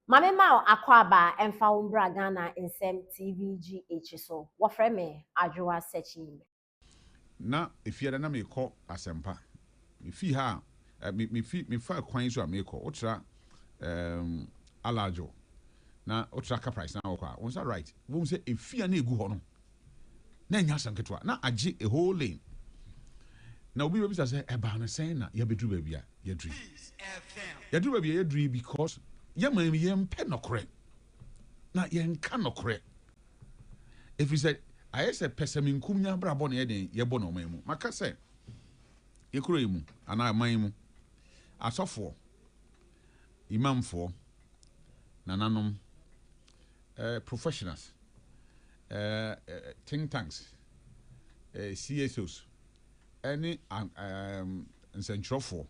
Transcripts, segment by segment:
Mame ma wo akwaaba ɛmfa wo mbra Ghana nsɛm TVG akyi so. Wɔfrɛ me Adwoa Sekyimbe. Na efiada na merekɔ asɛmpa. Mefii ha a, me, mefi, mefaa kwan yi so a merekɔ. Wotra um, Alajo, na wotra Caprice na wɔkɔ a, wo nsa right, wobɛhu sɛ efia no a egu hɔ no, na ɛnyɛ asɛm ketewa na agye a whole lane na obi bɛbisa sɛ ɛbaa no sɛn na yɛbɛduru baabi a yɛduru yi yɛduru baabi a yɛduru yi because yɛma mu yɛmpɛ nɔkorɛ na yɛnka nɔkorɛ ɛfiri sɛ ayɛ sɛ pɛsɛmenkum nya abrabɔ na yɛden yɛbɔ na ɔman mu maka sɛ yɛkuro yi mu anaa man mu asɔfoɔ imamfoɔ nananom eh, professionals, eh, eh, think tanks, eh, CSOs, ɛne eh, nsɛnkyerɛfoɔ,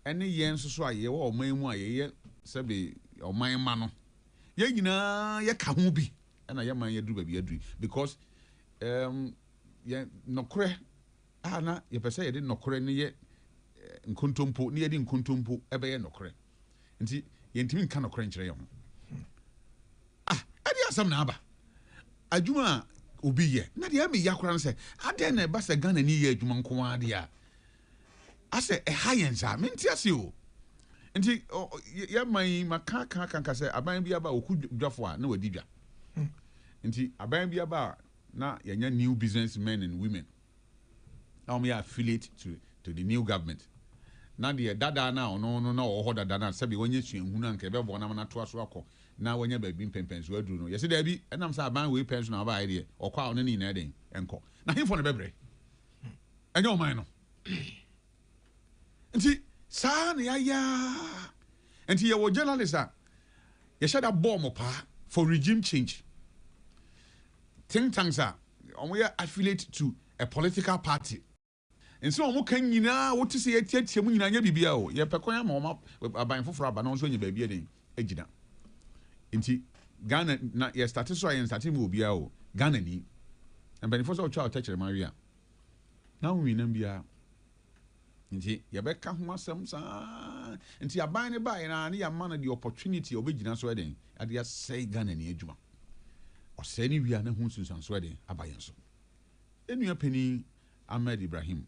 ɛne yɛn nso so a yɛwɔ ɔman yi mu a yɛyɛ sɛbe ɔman ma no, yɛn nyinaa yɛka ho bi ɛna yɛma yɛduru baabi aduru because um, yɛn nɔkorɛ a na yɛpɛ sɛ yɛde nokorɛ no yɛ nkontompo na yɛde nkontompo bɛyɛ nokorɛ nti yɛntumi nka nokorɛ nkyerɛ yɛn ho ah ɛde asɛm na aba adwuma a obi yɛ na deɛ ɛmi ya koraa no sɛ adɛn na ɛba sɛ Ghana ni yɛ adwuma nko ara deɛ a asɛ ɛha yɛn saa mente ase o nti yɛma yi maka ka kanka sɛ aban bi aba ɔku dwafo a na wadi dwa hmm. nti aban bi aba a na yɛnya new business men and women na wɔyɛ affiliate to to the new government na deɛ dada na ɔno no na ɔwɔ hɔ dada na sɛbi wɔnyɛ suahunu anka ɛbɛboa na wɔn atoa so akɔ na wɔnyɛ baabi mpɛmpɛnsoɔ aduru no yɛsi daabi ɛnam sɛ aban wei pɛn so na ɔbaayɛ deɛ ɔkɔ a ɔne ne nyinaa dɛn ɛnkɔ na henfoɔ na ɛbɛbrɛ ɛnyɛ ɔman no. nti saa na yɛayɛ ara nti yɛwɔ journalist a yɛhyɛ da bɔɔ mo paa for regime change think tanks a wɔn yɛ affiliate to a political party nse wɔn ka nyinaa wote sɛ yɛtiatia mu nyinaa nyɛ biribiara o yɛpɛ kwan ama wɔn aban foforɔ aba na wɔn nso anya baabi ɛden agyina nti Ghana na yɛstate so a yɛnstate mu obiara o Ghana ni mpanimfoɔ sɛ ɔtwa ɔtɛkyerɛma awi a N'ahohinamu biara nti, yɛbɛka ho asɛm saa. Nti aban no baeɛ no a, ne yɛama no the opportunity a ɔbɛgyina so ɛdɛn ade asɛe Ghana ni adwuma. Ɔsɛe no wie a, na ho nsunsuansoɔ ɛdɛn aba yɛn so. Yɛn nua panin Ahmed Ibrahim,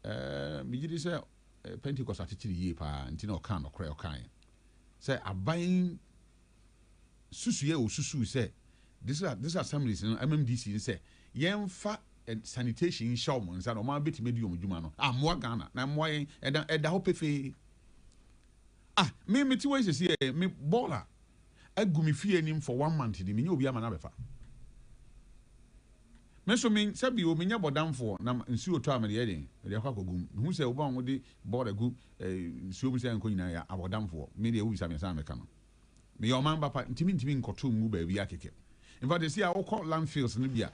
eh, megye di sɛ eh, Pentecost akyekyere yie paa, nti na ɔkaa nɔkorɛ ɔkaeɛ sɛ aban susuiɛ a ɔsusuu sɛ this this assemblies no MMDC no sɛ yɛmfa sanitation nhyɛ wɔn nsa na wɔn ara bɛtumi adi wɔn dwuma no ammoa Ghana na mmoa yɛn ɛda ɛda hɔ pefee ah me mete wɔ yi sɛsi yɛ me bɔɔla agu me fie anim for one month ni menyɛ obi ama no abɛfa me nso me sɛ bi o menyɛ bɔdamfoɔ na nsuo tɔ a mede yɛ den mede akɔ akɔgu mu mehu sɛ woba wɔn de bɔɔla gu eh, nsuo mu sɛ nkɔ nyinaa yɛ abɔdamfoɔ me deɛ wobisa me sɛ meka no Meyɛ ɔman ba pa nti mentumi nkɔto ngu baabiara kɛkɛ. In fact, ɛsei a wokɔ landfills no bi a,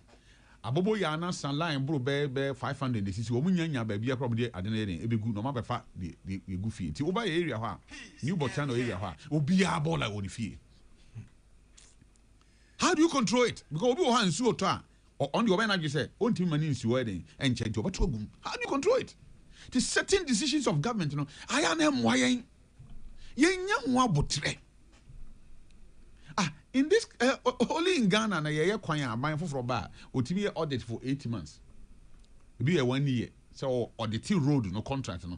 aboboyaa no asa line boro bɛyɛ bɛyɛ five hundred na ɛsisi hɔ. Wɔnnya nnya baabiara koraa a wɔde ade no yɛ dɛn ɛbɛgu na wɔabɛfa de de de agu fie. Nti woba yɛ area hɔ a, New Botchano area hɔ a, obiara bɔ line wɔ ne fie. How do you control it because obi wɔ hɔ a nsuo tɔ a ɔno deɛ ɔbɛyɛ n'adwene sɛ ɔntumi ma ne nsuo yɛ den nkyɛ nti ɔbɛto agu mu how do you control it nti certain decisions of government no ayɛ a na ɛmmoa yɛn yɛnya ho aboterɛ ah in this uh, only in Ghana na yɛyɛ kwan a aban foforɔ ba a ɔtumi yɛ audit for eight months ebi yɛ one year sɛ ɔdete road no contract no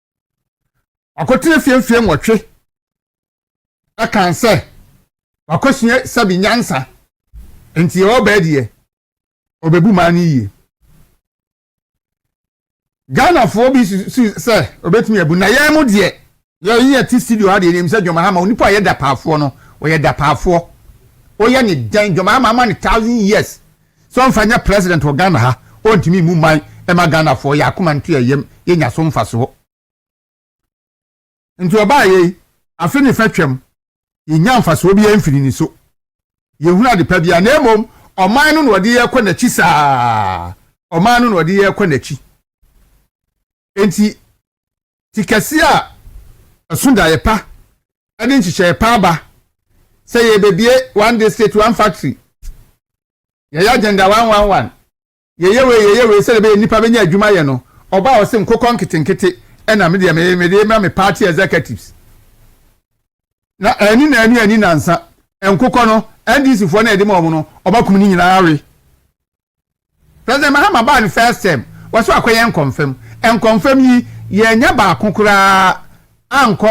Ɔkɔtena fie mfeɛ nwɔtwe ɛkan sɛ wakɔsua sɛbi nyansa nti yɛ ɔbaa deɛ ɔbɛbu maa no yie. Ghanafoɔ bi susu sɛ ɔbɛtumi abu na yɛn mu deɛ yɛn yɛ ti studio ha deɛ yɛnim sɛ John Mahama onipa a ɔyɛ dapaafoɔ no ɔyɛ dapaafoɔ ɔyɛ ne dɛn John Mahama ama ne thousand years So ɔmfa nyɛ president wɔ Ghana ha? Ɔntumi mmu man mma Ghanafoɔ, yɛn akoma nto yɛn yam, yɛnya so mfasoɔ. Nti ɔbaeɛ yi, afe ne fa twam, yɛnnya mfasoɔ biara mfiri ne so. Yɛnhunu adepa biara, na mmom ɔman no na ɔde yɛn rekɔ n'akyi saa ara, ɔman no na ɔde yɛn rekɔ n'akyi. Enti, ti kɛseɛ a ɛso daeɛ pa ne nhyehyɛeɛ pa aba sɛ yɛrebɛbie one district, one factory, yɛyɛ agenda one one one, yɛyɛ wei yɛyɛ wei sɛdeɛ ɛbɛyɛ nnipa bɛnya adwuma yɛ no, ɔbaa ɔse nkokɔ nketenkete ɛna me deɛ mede ma me party executives. Na ɛni na ɛnu ɛni nansa, nkokɔ no NDC foɔ na ɛde ma ɔmo no, ɔbɛkum ne nyinaa we. President Mahama baa ne first term, wɔ sɛ wakɔ yɛ nkɔmfam. Nkɔmfam yi, yɛannya baako koraa ankɔ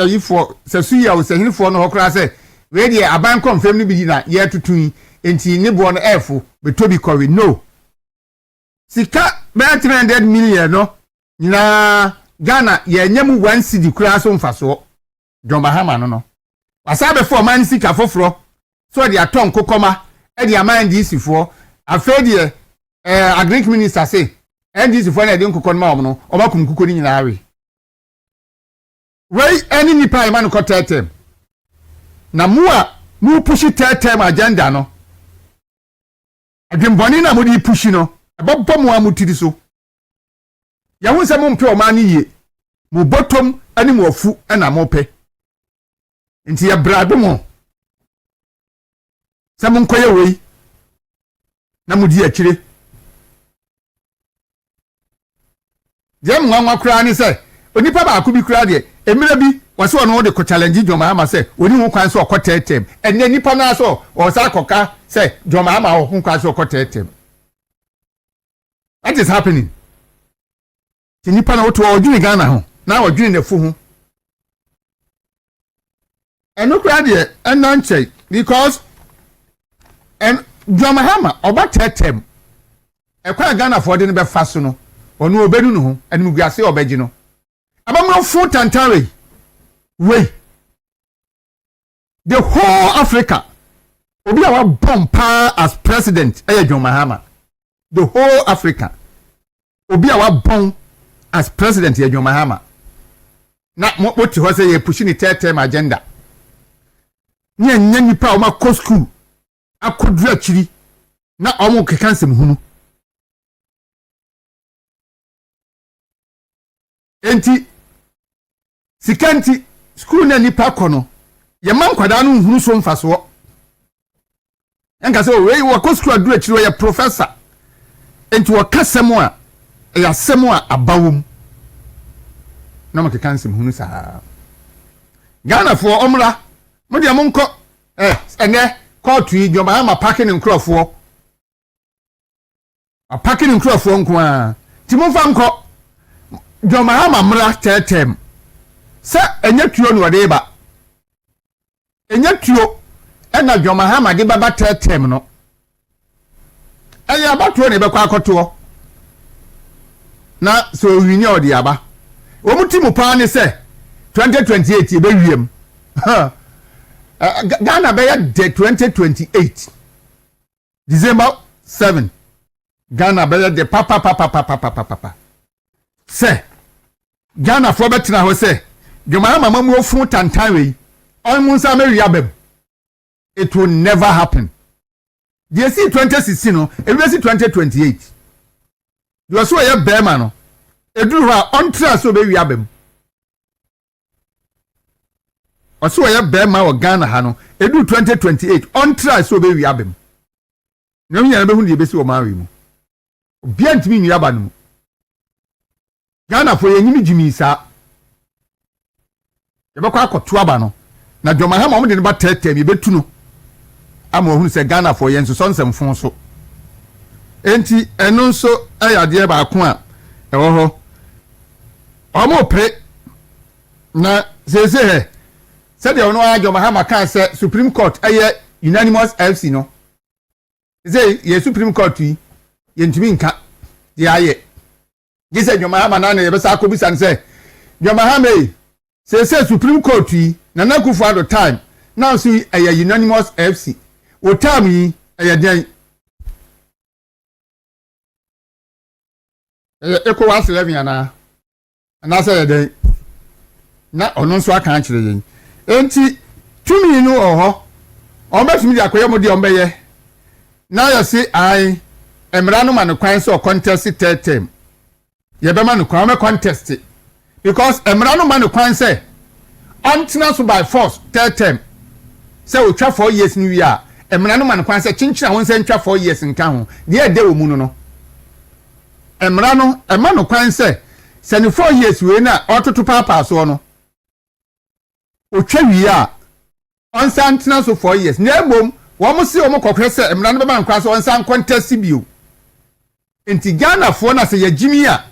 ayifoɔ, sɛ Suya o, sɛ henefoɔ no hɔ koraa sɛ, wei deɛ aban nkɔmfam no bi na yɛretoto yi, enti ne boɔ no ɛrefo, bɛtɔ bi kɔwe. No! Sika bɛyɛ three hundred million no nyinaa, Ghana, yɛannya mu one cedi koraa so mfasoɔ. John Mahama no no, wasan abɛfa ɔman no sika foforɔ sɛ ɔde atɔ nkokɔma de ama NDCfoɔ. Afei deɛ eh, Agric Minister se NDCfoɔ na ɛde nkokɔ no ma wɔn no, wɔakum nkuko no nyinaa awe. Wei ne nnipa a yɛma no kɔ third term. Na mo a morepushi third term agenda no, adwembɔne no a mode pushi no, ɛbɛbɔ mo a mo tiri so. yɛhu sɛ mompɛ ɔman no yie mo bɔtɔm ne mo afu na mopɛ nti yɛbrado mo sɛ monkɔyɛ wei na modi akyire deɛ mu nwanwa koraa ne sɛ onipa baako bi koraa deɛ mmerɛ bi wɔsɛ ɔno wode kɔ challenge John Mahama sɛ ɔni ho kwan sɛ ɔkɔ tɛɛtɛm ɛnɛ nipa no ara sɛ ɔsa akɔka sɛ John Mahama ɔho kwan sɛ ɔkɔ tɛɛtɛm What is happening? Ti nipa na wotoa ɔdwene Ghana ho na ɔdwene n'afu ho. Ɛno koraa deɛ ɛna nkyɛn because ɛn John Mahama ɔba tɛɛtɛɛ mu ɛkwan a Ghanafoɔ de no bɛfa so no ɔno ɔbɛnu ne ho animguase ɔbɛgye no. Abamurofo tantare wei. the whole africa obi a wabɔm paa as president ɛyɛ john mahama the whole africa obi a wabɔn as president yɛ john mahama na mo mo te hɔ sɛ yɛ pushi ne third term agenda ne ɛnyɛ nipa a wɔn akɔ school akɔduru akyiri na wɔn keka nsɛm hunu. Enti, sika nti, sukuu na nnipa kɔ no, yɛma nkwadaa no nhunu so mfasoɔ. Yɛnka sɛ, wei wakɔ sukuu aduru akyiri ɔyɛ professor. Enti wɔka sɛm a, ɛyɛ asɛm a aba wom. Na wɔkeka nsɛm hunu saa. Ghanafoɔ, ɔmmra, mo deɛ monkɔ, eh, ɛnɛ, kɔɔto yi, John Mahama pake ne nkurɔfoɔ. Wapake ne nkurɔfoɔ nko ara nti momfa nkɔ. John Mahama mmra tɛɛtɛɛ mu sɛ ɛnyɛ tuo na ɔde ba. Ɛnyɛ tuo ɛna John Mahama de bɛba tɛɛtɛɛ mu no. Ɛyɛ abatoɔ na ɛbɛkɔ akɔtoɔ na sɛ ɔwini a ɔde aba. Wɔn ti mu paa ne sɛ 2028 ɛbɛwie mu. Ghana bɛyɛ dɛ 2028. december seven ghana bɛyɛ de papapapapapapapa sɛ ghanafoɔ bɛtena hɔ sɛ dwamaya mama mu ofunu tantan wei ɔmo nsa ama wia bɛm it will never happen deɛ si twenty sixteen no ewia si twenty twenty eight deɛ ɔso ɔyɛ bɛrima no eduru hɔ a ɔntra so ɔbɛwia bɛm. ɔsɛ ɔyɛ bɛrima wɔ ghana ha no edu 2028 ɔntra sɛ ɔbɛwie aba mu na ɛho nyinaa bɛhu deɛ ɛbɛsi wɔ mawe mu obia ntumi nwie aba no mu ghanafoɔ yɛnyimi gyimii saa yɛbɛkɔ akɔto aba no na John Mahama wɔn de no ba tɛɛtɛɛ mu yɛbɛtu no ama wɔhunu sɛ ghanafoɔ yɛn nsosɔ nsɛmfo so enti ɛno nso ɛyɛ adeɛ baako a ɛwɔ hɔ Ɔmo pere. Na seesei hɛ, sɛdeɛ ɔno ara John Mahama kaa sɛ Supreme Court ɛyɛ unanimous FC no, seesei yɛn Supreme Court yi, yɛntumi nka deɛ ayɛ. Gye sɛ John Mahama no ara na yɛbɛsan akɔbisa no sɛ, John Mahama ei, seesei Supreme Court yi, Nana Akufo Addo time na nso yi ɛyɛ unanimous FC, wo time yi ɛyɛ dɛn? ɛyɛ ecowas eleven anaa anaasɛ ɛyɛ dɛn na ɔno nso aka akyerɛ yɛn nti tumi no wɔ hɔ wɔn bɛtumi de akɔyɛ wɔn deɛ wɔn bɛyɛ na yɛsi an mmara no ma no kwan sɛ ɔkɔntɛsi third term yɛbɛma no kwan wɔn contest Because mmara no ma no kwan sɛ ɔntena so by force third term. Sɛ ɔtwa four years no wie a, mmara no ma no kwan sɛ kyenkyena ho nsɛ ntwa four years nka ho. Deɛ ɛdɛ wɔ mu no no, mmara no ɛma no kwan sɛ sɛ ne four years wei no a ɔretoto paapaa soɔ no, ɔtwa wie a, ɔnsan ntena so four years. Na mmom, wɔn se wɔn kɔkorɛ sɛ mmara no bɛma nkora sɛ ɔnsan nkɔntɛse bio. Nti Ghanafoɔ na sɛ yɛgyimi a,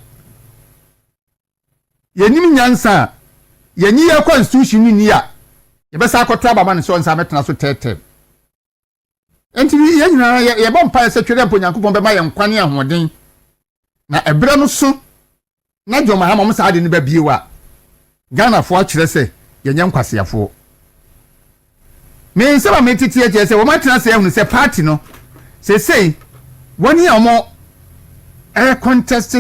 yɛnim nyansa a, yɛnye yɛn constitution no nni a, yɛbɛsan akɔto aba ma no sɛ ɔnsan bɛtena so third term. Enti yɛn nyinaa yɛbɔ mpaeɛ sɛ Twere Ampa Onyankopɔn bɛma yɛn nkwa ne ahoɔden. Na ɛberɛ no so na John Mahama ɔmo saa ade no ba bio a, Ghanafoɔ akyerɛ sɛ yɛnyɛ nkwaseafoɔ. Me nsɛm a metete akyerɛ sɛ wɔn atena ase ahunu sɛ party no sesei wɔn a wɔn ɛyɛ contest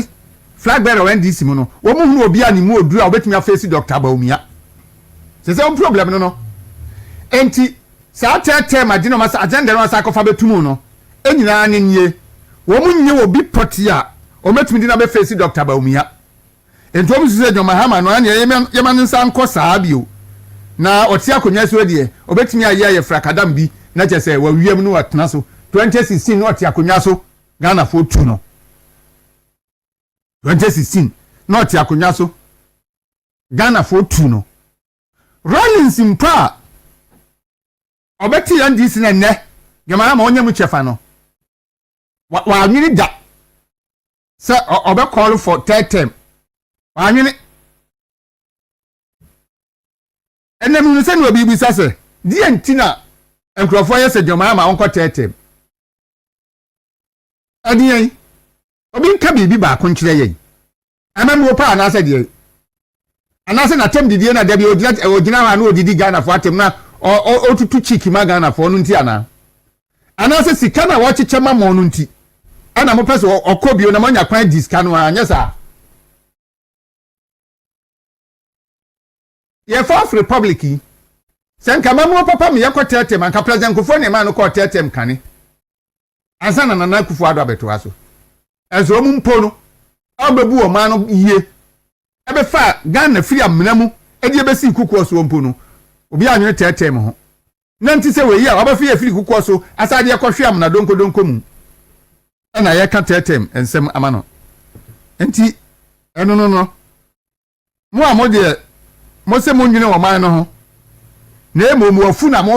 flag bearer wɔ NDC mu no wɔn hunu obi a ne mu oduru a wɔbɛtumi afeesi Dr. Bawumia sesei wɔn problem no no enti Saa tɛɛtɛɛ ma gye na ɔma saa agenda no asan akɔfa bɛtu mu no nyinaa ne nie, wɔn nyɛ obi pɔtee a wɔbɛtumi de no abɛfeesi Dɔkta Bawumia. Enti wɔn susu sɛ John Mahama no, ɛneɛ yɛma ne nsa nkɔ saa bio. Na ɔte akonnwa so deɛ, ɔbɛtumi ayɛ ayɛ frakadam bi na kyerɛ sɛ wawiam na watena so. 2016 na ɔte akonnwa so, Ghanafoɔ tu no. 2016 na ɔte akonnwa so, Ghanafoɔ tu no. Rawlings mpo a ɔbɛtee NDC na nnɛ German ama ɔnya mu kyɛfa no, wannwene da sɛ ɔbɛ call for third term. Wannwene. Ɛnna mu no sɛ na obi bisa sɛ, deɛ nti na nkurɔfoɔ yɛ sɛ German ama ɔnkɔ third term? ɛdeɛn obi nka biribi baako nkyerɛ yɛn amammuo paa anaasɛ deɛn anaasɛ n'atɛm didie no a dabi ɔgyina ɔgyina hɔ a na ɔdidi ghanafoɔ atɛm na ɔtutu cheek ma ghanafoɔ no nti anaa anaasɛ sika no a wɔkyekyɛ ma mɔ no nti ɛna mopɛ sɛ ɔkɔ bio na moanya kwan di sika no a nyɛ saa Yɛ fourth republic yi sɛ nka mamuo papa meyɛ kɔ tɛɛtɛm anka president nkofoɔ ne ɛmaa no kɔɔ tɛɛtɛm kane ansa na nana akufo ado abɛtoa so ɛnso ɔmo mpo no ɔbɛbu wɔn ano yie ɛbɛfa ghana firi amena mu ɛde ɛbɛsi kukuo soɔ mpo no obi anwene tɛɛtɛm ho na nti sɛ wɔyi a wɔbɛfa yɛ firi kukuo so asadeɛ kɔhwe amena donkodonko mu ɛna yɛka tɛɛtɛm nsɛm ama no nti ɛno no no Mo a mo deɛ mo se mo nnwene ɔman no ho, na mmom mo afu na mo.